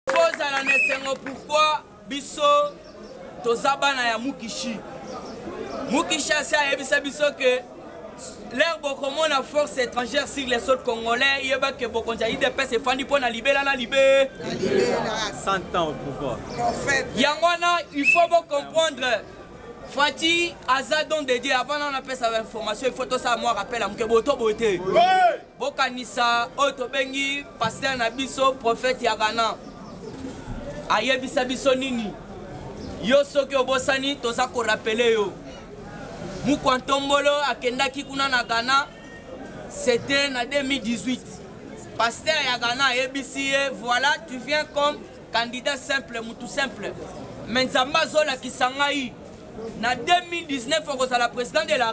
kozala na esengo pourkui biso toza bana ya mukishi mukishi asi ayebisa biso ke lere bokomona force étrangère sur les sols congolais yeba ke bokonzi ya idps efandi mpo na libela na libe yango wana il faut bocomprendre fati aza don de dieu avant nano apesa bainformation il faut tosala mwa rappel ya moke boto boye te bokanisa oyo tobengi pasteur na biso prophète ya ghana ayebisa biso nini yo soki obosani toza korapele yo mukwa ntombolo akendaki kuna na ghana c'était na 2018 pasteur ya ghana ayebisi ye voilà tu viens comme candidat simple mutu simple me nzambe azolakisa ngai na 2019 okozala président de la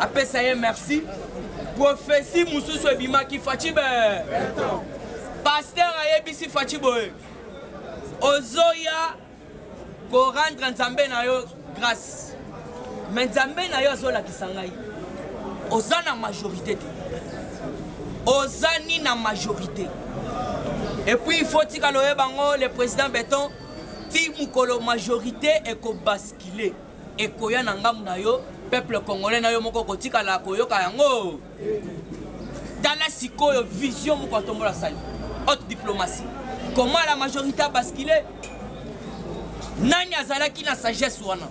apesa ye merci profesi mosusu ebimaki faci be paster ayebisi faci boye ozoya korendre nzambe na yo grâce me nzambe na yo azolakisa ngai oza na majorité te oza ni na majorité epuis il faut tikala oyeba yango le président beton ti mokolo majorité ekobaskile ekoya na ngambo na yo peuple congolais na yo moko okotikala koyoka yango tala sikoyo vision moko atombola sali haute diplomatie comment la majorité a bascule nani azalaki na sagesse wana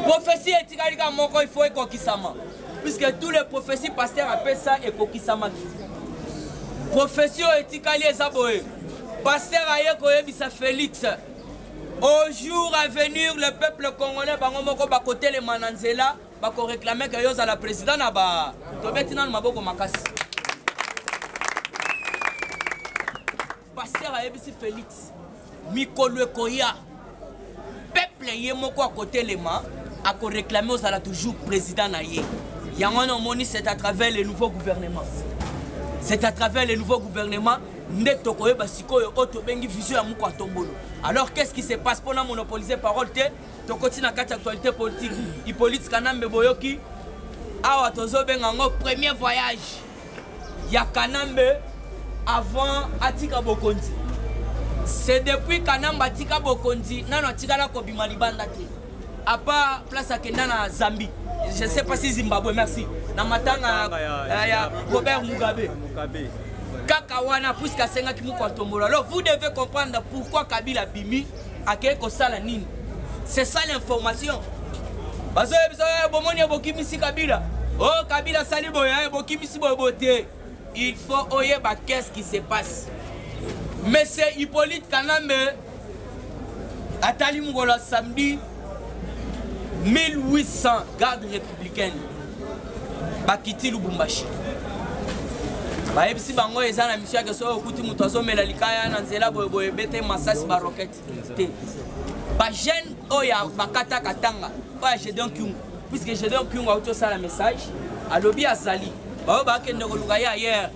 profesi etikali kaka moko il faut ekokisama puisque tous les prophéties pasteur apesa ekokisamaki profesi oyo etikali eza boye pasteur aye koyebisa félix au jour à venir le peuple congolais bango moko bakotelema na nzela bakoreklame ke yo ozala président na ba tobeti nano maboko makasi paster ayebisi félix mikolo ekoya peuple ye moko akotelema akoreklame ozala toujours président na ye yango wana omoni c'est à travers le nouveau gouvernement c'est à travers le nouveau gouvernement nde tokoyeba sikoyo oyo tobengi vision ya moko atombolo alors qu'est ce qui se passe mpona monopolise parole te tokoti na kati actualité politique hippolite kanambe boyoki awa tozobenga yango premier voyage ya kanambe avant atika bokonzi c'est depuis kanambe atika bokonzi nano atikala kobima libanda te à part place akenda na zambie je sais pas si zimbabwe merci na matanga ya, ya robert mugabe, mugabe. kaka wana puiske asengaki moko atombola alors vous devez comprendre pourquoi kabila bimi akei kosala nini c'est ça l'information bazoyebisa eh, bomoni bokimisi kabila o oh, kabila asali boye eh, bokimisi boye boye te il faut oyeba qu'est ce qui se passe monsieur hippolyte kanambe atali mokolo ya samedi 1800 garde républicaine bakiti lubumbashi bayebisi bango eza na misio yake soki okuti moto azomela likaya na nzela boyeboye bete masasi barokete te bajeune oyo oh, bakataka tanga oyo ya gedeon kyungu puiske gedeon kyungu auti osala message alobi azali baoyo bakende koluka ye ayere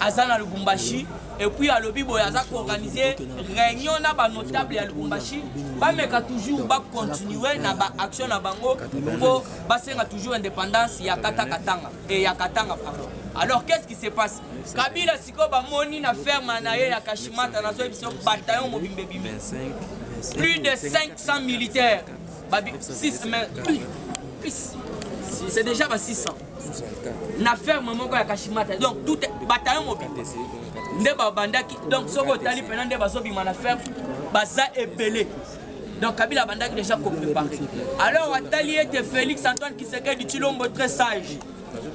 aza na lubumbashi epuis alobi boye aza koorganize réunion na banotable ya lubumbashi bameka toujours bacontinue na baaction na bango mpo basenga toujours indépendance ya kata katanga e ya katanga pardon alors qu'est-ce qui se passe kabila sikoyo bamoni na ferme na ye ya kashimata nazoyebi biso bataillon mobimba ebimi plus de 500 militaires 6 mais c'est déjà ba 600 na ferme moko ya kashimata donc tout bataillon mobile nde babandaki donc soki otali mpena nde bazobima na ferme baza ebele donc kabila abandaki déjà koprépare alors atali ete félix antoine kisekedi chilombo très sage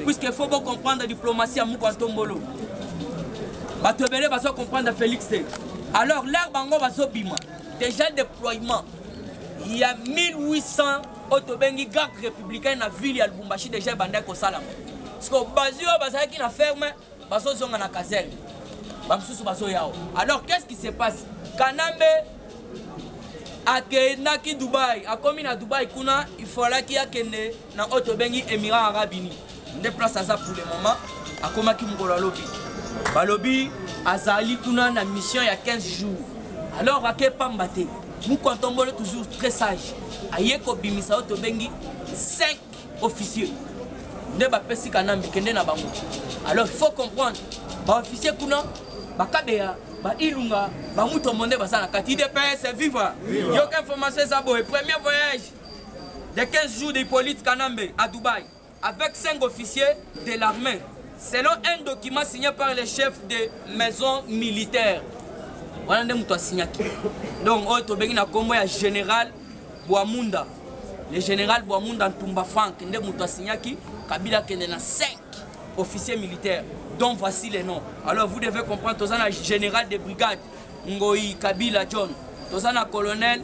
puisque faut bocomprendre diplomatie ya moko antombolo bato ebele bazo comprendre félix te alors lare bango bazobima déjà déploiement ya 1800 oyo tobengi garde républicaine na ville ya lubumbashi déjà ebandaki kosalama siko bazwi oyo bazalaki na ferme bazozonga na caserne bamosusu bazoyawa alors qu'est ce qui se passe kanambe akendaki dubai akomi na dubai kuna ifalaki akende na oyo tobengi émirat arabe unis nde place aza pour le moment akomaki mokolo alobi balobi azali kuna na mission ya 15 jours alors ake pamba te moko antombole toujours très sage aye kobimisa oyo tobengi 5 officieux nde bapesi kanambe kende na bango alors faut comprendre baofficier kuna bakabeya bailunga bamutombo nde baza na kati idps viva yoka information eza boye premier voyage de 15 jours de hippolyte kanambe à dubaï avec cinq officiers de l'armée, selon un document signé par les chefs des maisons militaires. wana nde moto asignaki donc oyo tobengi na nkombo ya général bwamunda le général bwamunda ntumba frank nde moto asignaki kabila akende na 5 officier militaire dont voici les noms alors vous devez comprendre toza na général de brigade ngoyi kabila john toza na colonel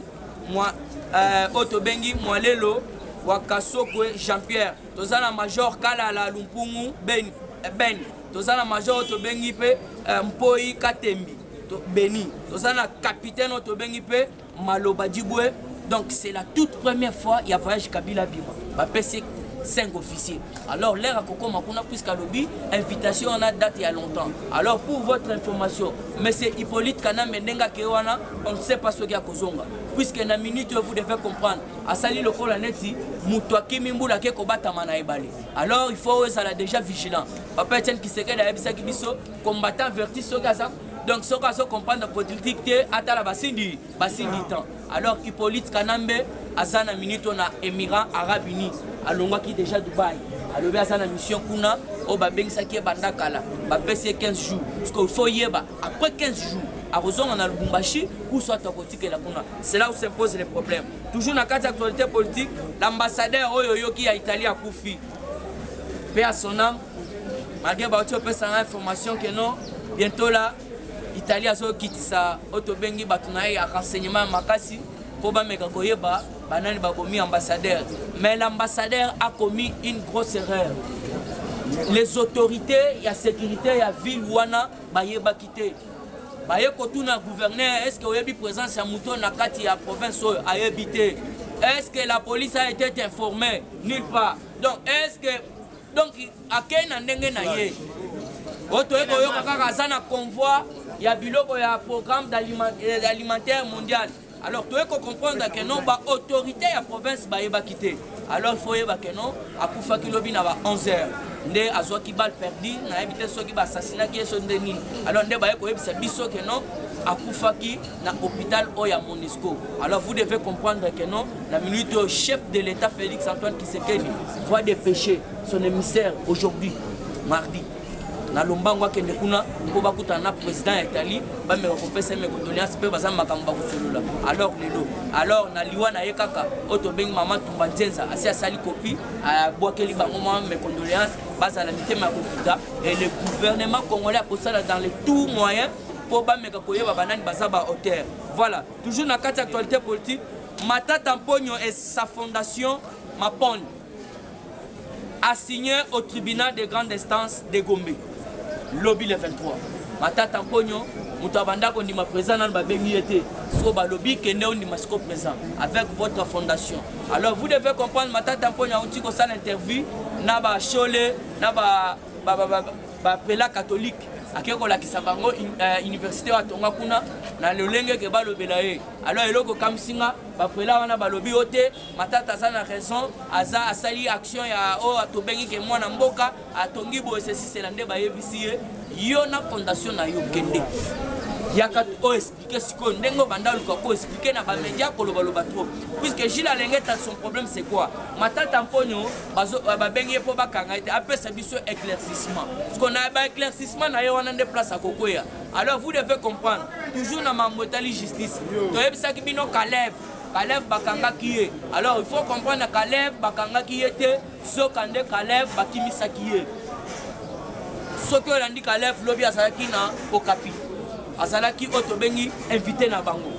mwa euh, oyo tobengi mwalelo wa kasokwe jean pierre toza na major kalala lumpungu ben, eh, ben. toza na major oyo tobengi mpe euh, mpoi katembi to, beni toza na kapitaine oyo tobengi mpe maloba dibwe donc c'est la toute première fois ya voyage kabila abima bapesi 5 officiers alors lere akokoma kuna puisque alobi invitation wana date ya longtemps alors pour votre information monsieur hippolyte kanambe ndenge akei wana on ne sait pas soki akozonga puisque na minute oyo vous devez comprendre asali lokola neti moto akimi mbula ake kobatama na ebale alors il faut ezala déjà vigilant papa etienne kisekedi ayebisaki biso combattant verti soki aza donc soki azo comprendre politique te atala basindi basindi temps alors hippolyte kanambe aza na minute na émirat arabe uni alongwaki déjà dubai alobi aza na mission kuna oyo babengisaki ye banda kala bapesi ye 15 jours parce que faut yeba après 15 jours akozonga na lubumbashi ou soit akotikela kuna c'est là où s'impose les problèmes toujours na kati ya actualité politique l'ambassadeur oyo oyoki ya italie akufi mpe ya sonam malgré bauti opesa nga information que non bientôt là italie azokitisa oyo tobengi bato na ye ya renseignement ya makasi mpo bameka koyeba banani bakomi ambassadeur mais l'ambassadeur akomi une grosse erreur les autorités ya sécurité ya ville wana bayebaki te baye kotuna gouverneur est ce que oyebi présence ya moto na kati ya province oyo ayebi te est ce que la police a été informée nulle part donc est ce que donc akei na ndenge na ye oyo toyei koyoka kaka aza na convoi ya biloko ya programme euh, alimentaire mondial alors toyei kocomprendre ke non baautorité ya province bayebaki te alors ifo oyeba ke non akufaki lobi na ba 11 heures nde azwaki bal perdu nayebi te soki basasinaki ye so nde nini alors nde baye koyebisa biso ke non akufaki na hôpital oyo ya monisco alors vous devez comprendre que non La minute au chef de l'État Félix Antoine Kisekedi voit des péchés, son émissaire aujourd'hui, mardi. na lombango akende kuna mpo bakutana na président ya italie bameka kopesa me condoléance mpe baza makambo bakosolola alors lelo alors na liwa na ye kaka oyo tobengi mama tumba nzenza asi asali kopi abwakeli bango mwa me condoléance bazala mitema ya kokuta et le gouvernement congolais akosala dans le tout moyen mpo bameka koyeba banani baza ba auteur voilà Toujours na kati actualité politique, Matata Mponyo et sa fondation Mapon a signé au tribunal de grande instance de Gombe, lobby le 23. Matata Mponyo, moto abanda kondima présent nanu babengi ye te so balobi kende ondima siko présent avec votre fondation alors vous devez comprendre matata mponya auti kosala interview na bashole na ba, ba, ba, ba, ba bapela katolike akei kolakisa bango eh, université oyo atonga kuna na lolenge ke balobela ye alors eloko okamwisi nga bapela wana balobi yo te matata aza na raison aza asali action ya oyo oh, tobengi ke mwana mboka atongi boye sesisela nde bayebisi ye yo na fondation na yo kende yaka oyo oh, expliquer sikoyo ndenge obanda luka ko expliquer na bamedia kolobaloba trop puisque gile alengeta son problème c'est quoi matata mponyo euh, babengi ye mpo bakanga ye te apesa biso éclaircissement siko na baéclaircissement na ye wana nde place akokweya alors vous devez comprendre toujours na mambo etali justice toyebisaki bino kaleve kaleve bakangaki ye alors il faut comprendre na kaleve bakangaki ye te Zoka nde Kalev bakimisaki ye. Soki olandi Kalev lobi azalaki na Okapi. Azalaki oyo tobengi invité na bango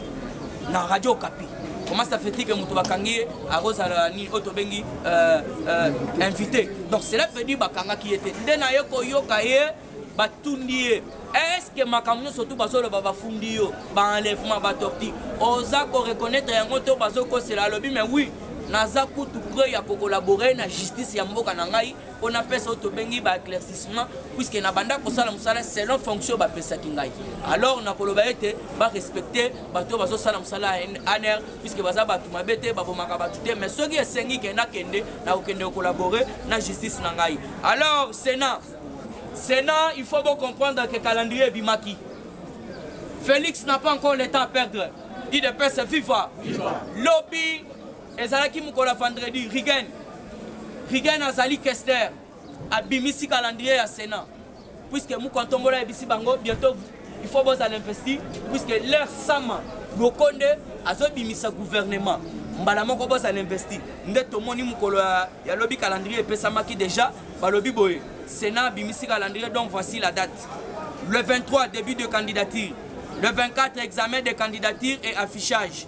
na radio Okapi. Comment ça fait-il que moto bakangi ye akozala nini oyo tobengi euh, euh, invité donc cela veut dire bakangaki ye te nde naye koyoka ye batundi ye eske makambo nyonso tu bazoloba bafundi yo baenlèvement batorti oza koreconnaitre yango to bazokosela alobi me wi naza kutu preuve ya kokolabore na justice ya mboka na ngai mpo napesa oyo tobengi baéclaircissement puiske nabanda kosala mosala selon fonction bapesaki ngai alors nakoloba ete barespecte bato oyo bazosala mosala ya aner puiske baza bato mabe te babomaka bato te mais soki esengi ke nakende nakokende kokolabore na justice na ngai alors sénat Sénat, il faut vous comprendre que calendrier Bimaki. Félix n'a pas encore le temps à perdre. Il dépêche viva. viva. Lobby, ezalaki mokolo ya vendredi rigen rigen azali kester abimisi calendrier ya sénat puisque mokontombola ayebisi bango bientôt il faut bozala investi puisque leur sama lokonde azobimisa gouvernement mbala moko bozala investi nde tomoni mokolo ya lobi calendrier epesamaki déjà balobi boye sénat abimisi calendrier donc voici la date le 23 début de candidature le 24 examen de candidature et affichage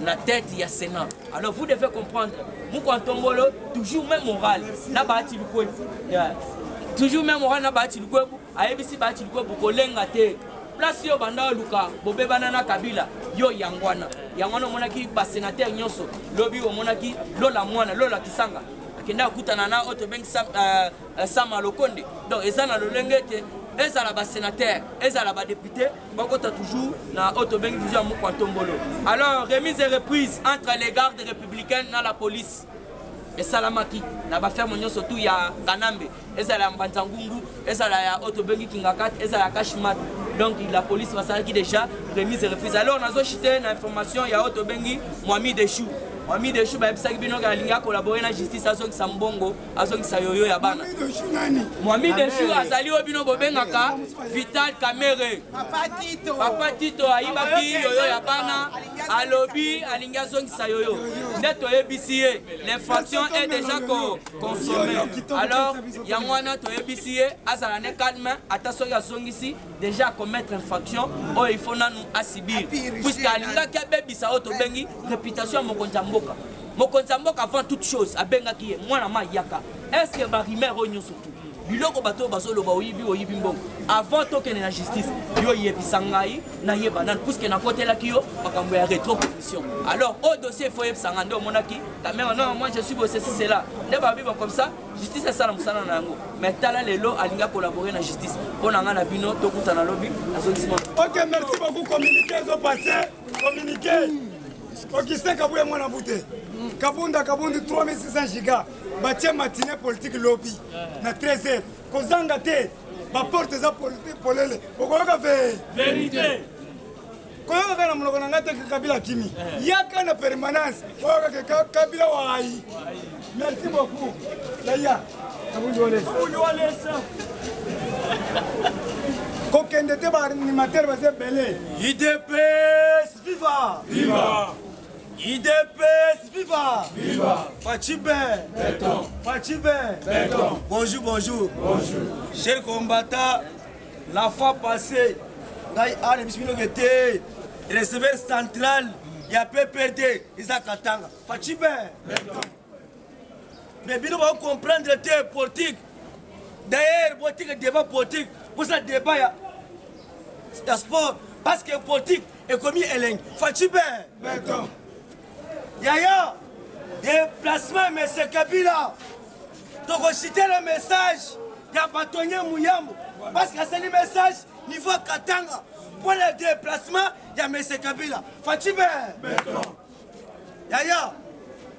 na tête ya Sénat. Alors vous devez comprendre, Mouko Antombolo, toujours même moral, na bahati lukwe. Yeah. Toujours même moral na bahati lukwe, ayebisi bahati lukwe bokolenga te. Place yo banda luka, bobebana na Kabila, yo yangwana. Yangwana omonaki ba sénateur nyonso, lobi omonaki lola mwana, lola kisanga. Akenda kutana na oyo tobengi Sam, euh, euh, Sama Lokonde. Donc eza na lolenge ete ezala ba sénateur, ezala ba député, bakota toujours na oyo tobengi vision ya mokwa ntombolo alors remise et reprise entre les gardes républicaines na la police esalamaki na baferme nyonso tu ya kanambe ezala ya mbanza ngungu ezala ya oyo tobengi kingakat ezala ya kashmat donc la police basalaki déjà remise et reprise alors nazochite na information ya oyo tobengi mwami de chou mwami de chou bayebisaki bino alingi akolabore na justice azongisa mbongo azongisa yoyo ya bana mwami deshu azali oyo bino bobengaka vital kamere papa tito ayibaki yoyo ya bana alobi alingi azongisa yoyo nde toyebisi ye l'infraction est déjà consommé alors yango wana toyebisi ye azala ne calme ata soki azongisi dejà acommettre infraction oyo ifo nanu asibir puiske alingaki abebisa oyo tobengi réputation ya mokonzi ya mboka mokonzi ya mboka avant toute chose abengaki ye mwana ma yaka estce barimer oyo nyonso tu biloko bato oyo bazoloba oyibi oyibi mbongo avant tokende na justice yo yebisa ngai nayeba nani puiske nakotelaki yo makambo ya retro commission alors oyo dossier ifo yebisa ngai nde omonaki kamera non moi je suis bosesi cela nde babiba comme ça justice asala mosala na yango mais tala lelo alingi akolabore na justice mpo na ngai na bino tokutana lobi azongisima ok merci beaucoup communiqué ezopasse communiqué okise kabuya mwana bute kabunda kabundi 3600 giga batie matine politique lobi na 13 heures kozanga te baporte eza polele okoyoka ve verité koyoka kaka na monoko na ngai te kabila akimi eh. yaka na permanence koyoka ke kabila wayi merci beaucoup yaya kabundi walesa kokende te baanimatere baza ebele idps viva viva idps viva viva facibe facibe bonjour bonjour bonjour cher combattant La fois passée, ngai ana biso bino ke te receveur central ya pprd eza katanga facibe mais bino bao comprendre te politique d'ailleurs botika débat politique bosa débat ya ya sport parce que politique ekomi elengi facibe Yaya, déplacement ya Monsieur Kabila, tokoshite le message ya batonye muyambo parce que asali message niveau ya Katanga mpo na déplacement ya Monsieur Kabila. Fatshi be. Yaya,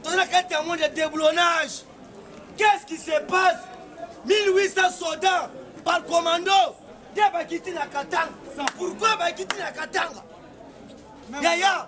toza na kati ya monde ya déblonnage. Qu'est-ce qui se passe 1800 soldats par commando nde bakiti na Katanga. Pourquoi bakiti na Katanga? Yaya,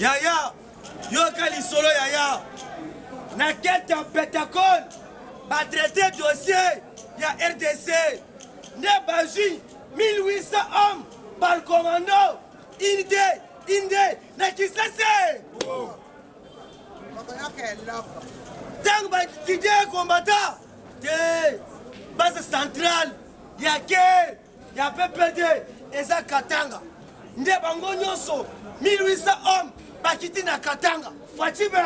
yaya yoka lisolo yaya na kete ya pentacole batraite dossier ya rdc nde bazwi 1800 hommes par commando inde inde na kisese ntango batidie combattant te base centrale ya ke ya ppd eza katanga nde bango nyonso 1800 homme bakiti na katanga facibe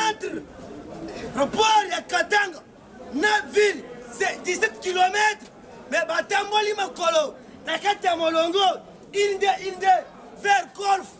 entre report ya katanga na ville 17 km me batamboli makolo na kati ya molongo inde inde vers golfe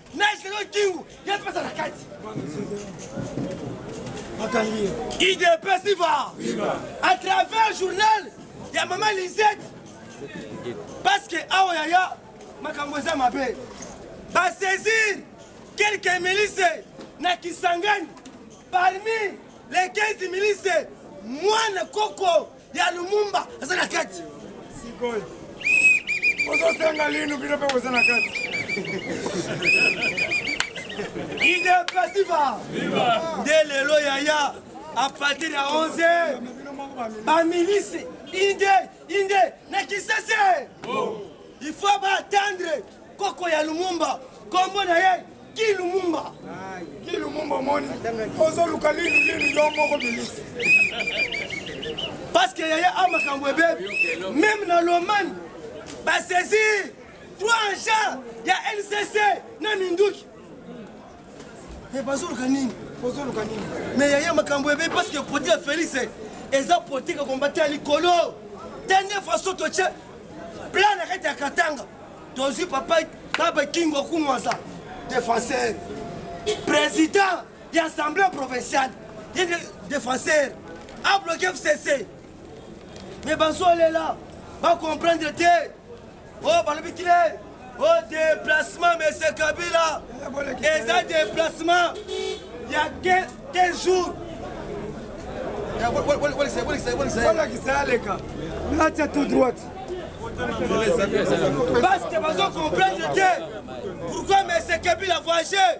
naiselo kingu yapesa na kati idps viva à travers journal ya mama lisette parce que awa yaya makambo eza mabe basaisir quelques milices na kisangani parmi les 15 milices mwana koko ya lumumba aza na kati sikoyo ozosenga linu bino mpe boza na kati ide pasiva nde lelo yaya a partir ya 11 bamilisi inde inde na kisese il faut baatendre Koko ya Lumumba, kombo na ye Guy Lumumba. Guy Lumumba omoni, ozoluka lini lini yo moko bilisi. Parce que yaya a makambo ebebi, meme na Lomani basesi trois agents ya NCC na minduki Mais eh, bazoluka nini bozoluka nini mais yaya makambo ebe parce que produit ya félix eh, eza politique ya kombate ya likolo tende façon totie plan na kati ya katanga tozwi papa baba kingo akumwaza défenseur président ya assemblée provinciale ye défenseur abloke fcc mais bazolela bacomprendre te oyo balobi kile o déplacement monsieur kabila eza déplacement ya 15 jours bolakisa aleka natya tout droite parce que bazo comprendre te pourquoi monsieur kabila voyage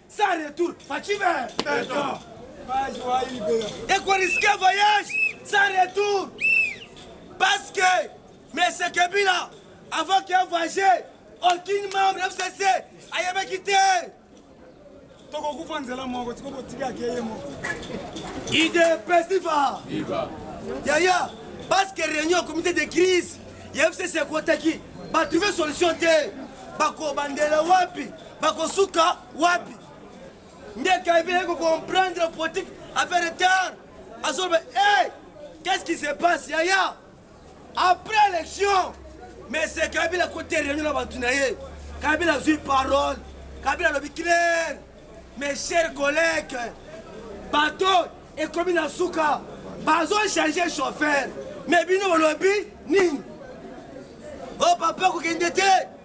Sans retour, Fatshi vert. Béton. Page wa libera. Et qu'on risquait voyage sans retour. Parce que M. Kabila, avant qu'il voyage, aucun membre FCC ayebaki quitté. tokokufa nzela moko tiko botikaki ye moko idps diva yaya parce que réunion ya comité de crise ya fcc ekotaki batrouve solution te bakobandela wapi bakosuka wapi nde kaibi naye kocomprendre politique affaire retard azoloba hey, qu'est-ce qui se passe yaya après élection mais se kabila kote réunion na bato na ye kabila azwi parole kabila alobi claire mes chers collègues bato ekomi na suka bazochange chauffeur mais bino bolobi nini o oh, papa kokende te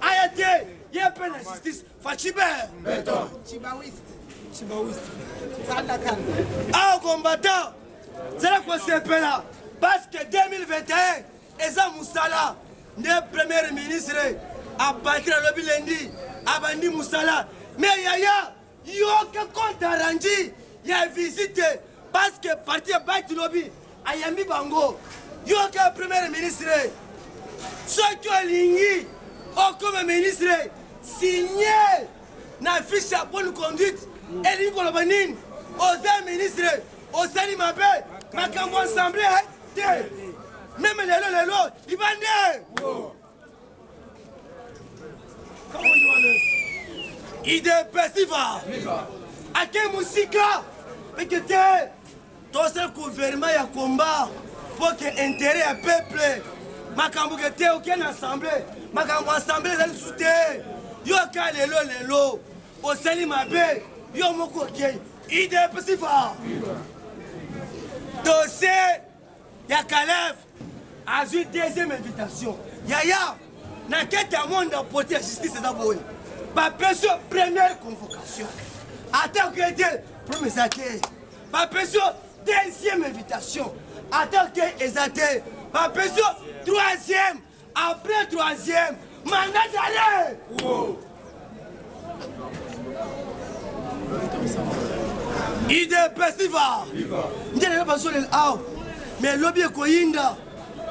aya te ye mpe na justice faciber beton chibawiste chibawiste fanda kanda awa combattant zala kosepela parce que 2021 eza mosala nde premier ministre abandi alobi lendi abandi mosala me yaya yoka compte arrange ya visite parce que parti ya bati lobi ayambi bango yoka premier ministre soki olingi okoma ministre signe na fiche ya bonne conduite elingi koloba nini oza ministre osali mabe makambo ensemble te meme lelo lelo libande idps viva ake mosika eke te tose guvernema ya komba mpo ke intere ya peuple makambo ke te oke na assemble makambo assemble ezali lisusu te yo aka lelo lelo osali mabe yo moko okei idps viva tose ya kalev azwi deuxième invitation yaya na kete ya monde ya poti ya justice eza boye bapesi yo première convocation atako ye te problème eza te bapesi yo deuxième invitation atako te eza te bapesi yo troisième Après troisième, mandat d'arrêt. Wow. idps viva nde lelo bazolela awa mais lobi ekoyinda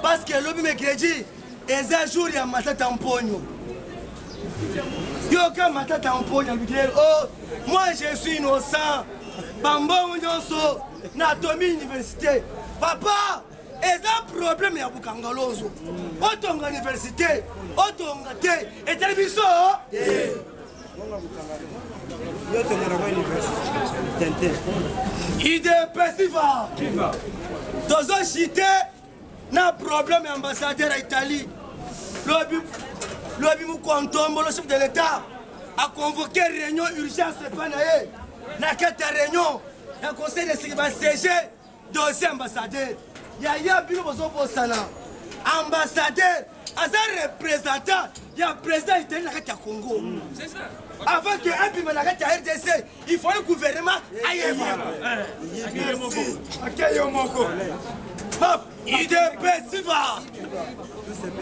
parce que lobi mercredi eza jour ya matata mponyo yoka matata mponyo alobi lelo o moi je suis innocent bambongo nyonso na tomi université papa eza problème ya bukangalonzo otonga université otonga te etali biso idepesiva tozoshite na problème ya ambassadeur ya italie lobi lobi mokontombo le chef de l'état aconvoke réunion urgence epai na ye na kati ya réunion ya conseil de sécurité basege deuxième ambassadeur yaya bino bozobosana ambassadeur aza représentant ya président itali na kati ya congo mm. avant que abima na kati ya rdc il faut gouvernement ayeba akeyo moko idps viva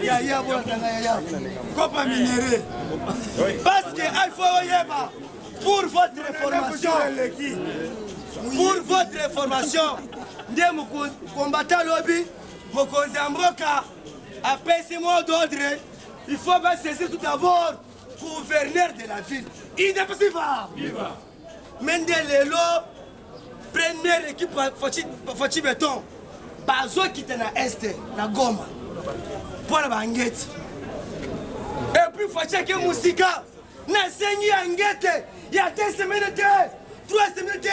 yaya bolakanga yaya kopa minere parce que il faut oyeba Pour votre information, pour votre information, nde combattant lobi mokonzi ya mboka apesi mot d'ordre il faut basaisir tout d'abord gouverneur de la ville idepesi va me nde lelo première équipe faci beton bazokita na este na goma mpo na bangeti epuis faci ake mosika nasengi ya ngete ya te semaine te trois semaine te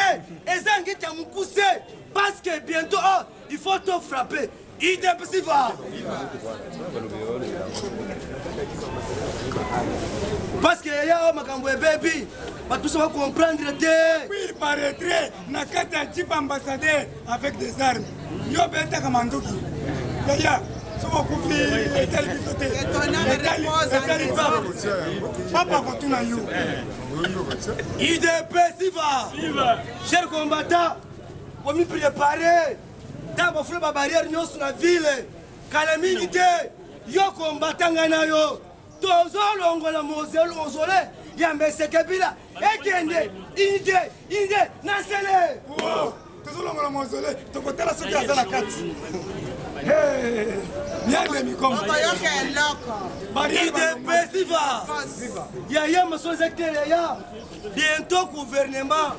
eza ngete ya mokuse parce que bientôt oh, il faut to frapper idepsi va parce que yaya makambo ebebi bato biso bacomprendre te ma retrait na kati ya jipe ambassadeur avec des armes yo obetaka manduki yaya soki okufi etali biso te etali papa papa akotuna yo idp siva cher combattant omi prépare ntango bafula babarrière nyonso na ville kala mingi te yo combattant ngai na yo tozolongola mozole ya mesekebila ekende inite inde na nsele tozolongola mozole tokotala soki aza na kati yande mikomayoka eloko idps viva yaya maso eza te yaya bientôt gouvernement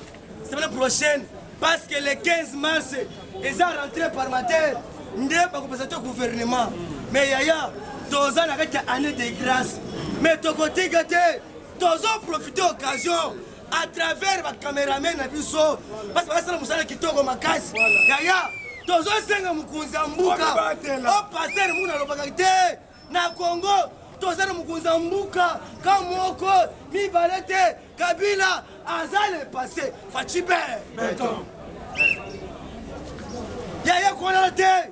semaine prochaine parce que le 15 mars eza rentré parlementaire nde bakopesa te gouvernement mais yaya toza na kati ya année de grâce mais tokotika te tozo profite occasion à travers bacameramen na biso basi bakasala mosala kitoko makasi yaya tozosenga mokonzi ya mbuka o paster muna alobaka te na congo toza na mokonzi ya mbuka ka moko mibale te kabila aza le passe facibe yaya konala te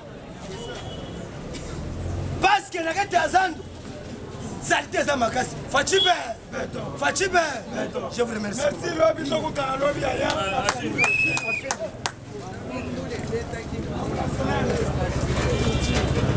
paske na kati ya zando salite eza makasi faci be faci be je vous remercie merci lobi tokutana lobi aya